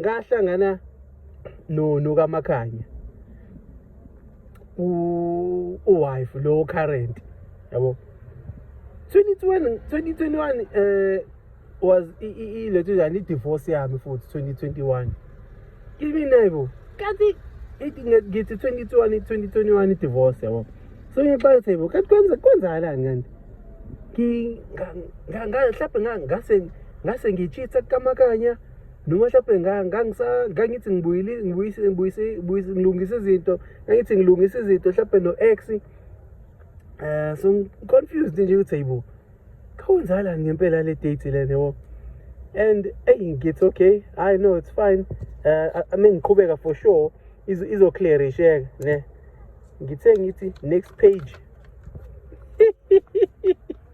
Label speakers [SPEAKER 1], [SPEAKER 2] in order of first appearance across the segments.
[SPEAKER 1] ngahlangana no nokamakhanya u wife lo current yabo 2021 2021 eh was ilethu njani i-divorce yami futhi 2021 kimi naibo kanti ngithi 2021 2021 i-divorce yabo so ngixaka ukuthi yebo kanti kwenza kwenzakalani kanti ngahlaphe ngase ngase ngichitha kukamakanya noma mhlawumbe ngangithi ngilungise izinto ngangithi ngilungise izinto mhlawumbe no-x um eh, so ngi-confused nje ukuthi hayi bo khawenzalani ngempela le date le nebo and eyi ngithi okay hayi no it's fine um eh, ame ngiqhubeka for sure izoclearisheka ne ngithe ngithi next page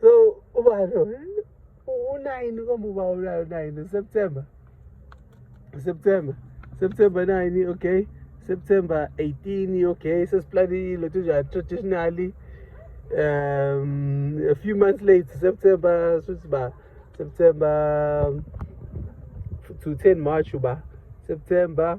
[SPEAKER 1] so ubani u-nine komuba ulayo nine september september september nine okay september 18 okay sesiplanile tunjani traditionally um a few months late september suthi ba september to 10 march uba september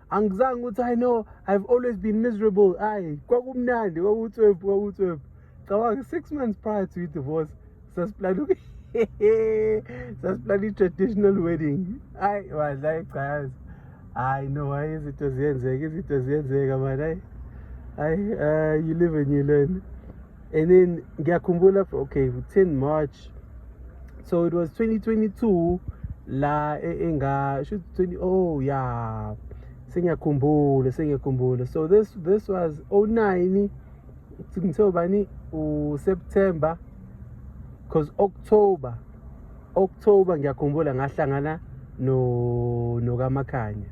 [SPEAKER 1] angizange ukuthi i know i've always been miserable ayi kwakumnandi kwakutswebhu kwakutswebhu cabanga six months prior to i-divorce sasiplana sasiplana i-traditional wedding ayi wadla ichayazi hayi no hayi izinto ziyenzeka izinto ziyenzeka mani hayi hayi uh, you live and you learn and then ngiyakhumbula okay 10 march so it was 2022 la e, enga should 20 oh yeah sengiyakhumbula sengiyakhumbula so this this was 09 ngithe ubani u September because October October ngiyakhumbula ngahlangana no nokaMakhanya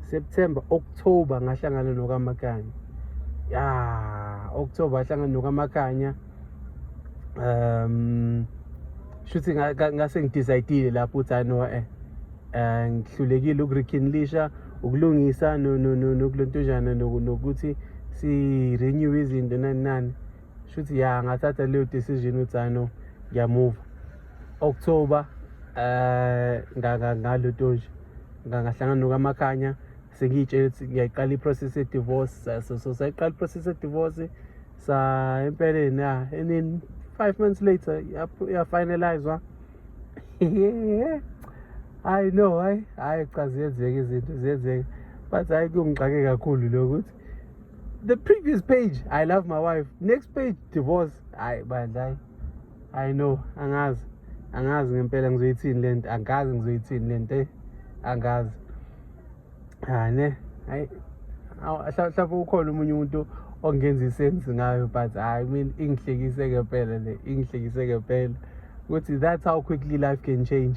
[SPEAKER 1] September October ngahlangana nokaMakhanya ya October ahlangana nokaMakhanya um shuthi ngase ngidecide lapho ukuthi hayi no eh, eh ngihlulekile ukurekindlisha ukulungisa nokulontujana nokuthi si-renew izinto nani nani shuthi ya ngathatha leyo decision ukuthi hayi no ngiyamuva october eh ngalo tonje ngangahlangana nokamakhanya sengiyitshela ukuthi ngiyayiqala i-process ye-divorce so so sayiqala i-process ye-divorce sa empeleni ya and then five months later yafinalizwa hayi no hayi hayi cha ziyenzeka izinto ziyenzeka but hayi kungixake kakhulu lokuthi the previous page i love my wife next page divorce hayi bandla hayi hayi no angazi angazi ngempela ngizoyithini le nto angazi ngizoyithini le nto eh, angazi hayi ne hayi mhlawumbe ukhona omunye umuntu ongenza isensi ngayo but hayi mina ingihlekise ngempela le ingihlekise ngempela ukuthi that's how quickly life can change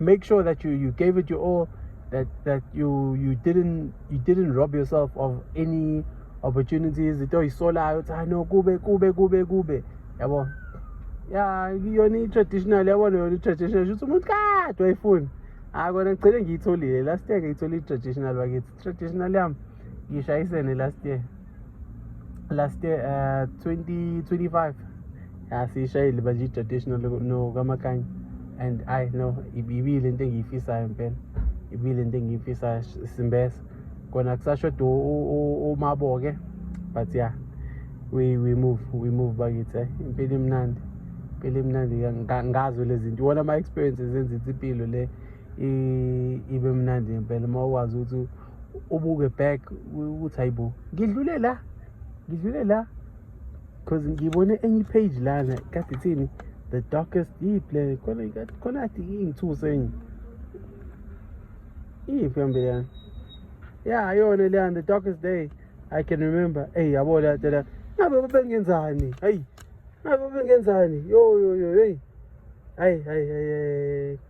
[SPEAKER 1] make sure that you you gave it your all that that you you didn't you didn't rob yourself of any opportunities into oyisolayo ukuthi hayi no kube kube kube kube yabo ya yona i-traditional yabona yona i-traditional shuthi umuntu kade wayifuni hayi kona ngigcine ngiyitholile last year ngiyitholile i-traditional bakithi traditional yam ngishayisene last year last year uh, 2025 asiyishayile manje i-traditional nokamakanye and i no ibile into engiyifisayo impela ibile into engiyifisayo simbesa kona kusashoda umabo-ke but ya yeah, we, we move we move bakithi eh? impilo imnandi impilo imnandi ngazo lezi zinto iwona ama-experiences enza ithi impilo le ibe mnandi ngempela uma ukwazi ukuthi ubuke back ukuthi hayibo ngidlule la ngidlule la because ngibone enye ipage lana kade ithini the darkest deep le khona khona kade ingithuse enye iyiphi yambele yani ya yona leyani the darkest day i can remember eyi yabo leya tela ngabe babengenzani hayi ngabe babengenzani yo yo yo heyi hayi hayi hayi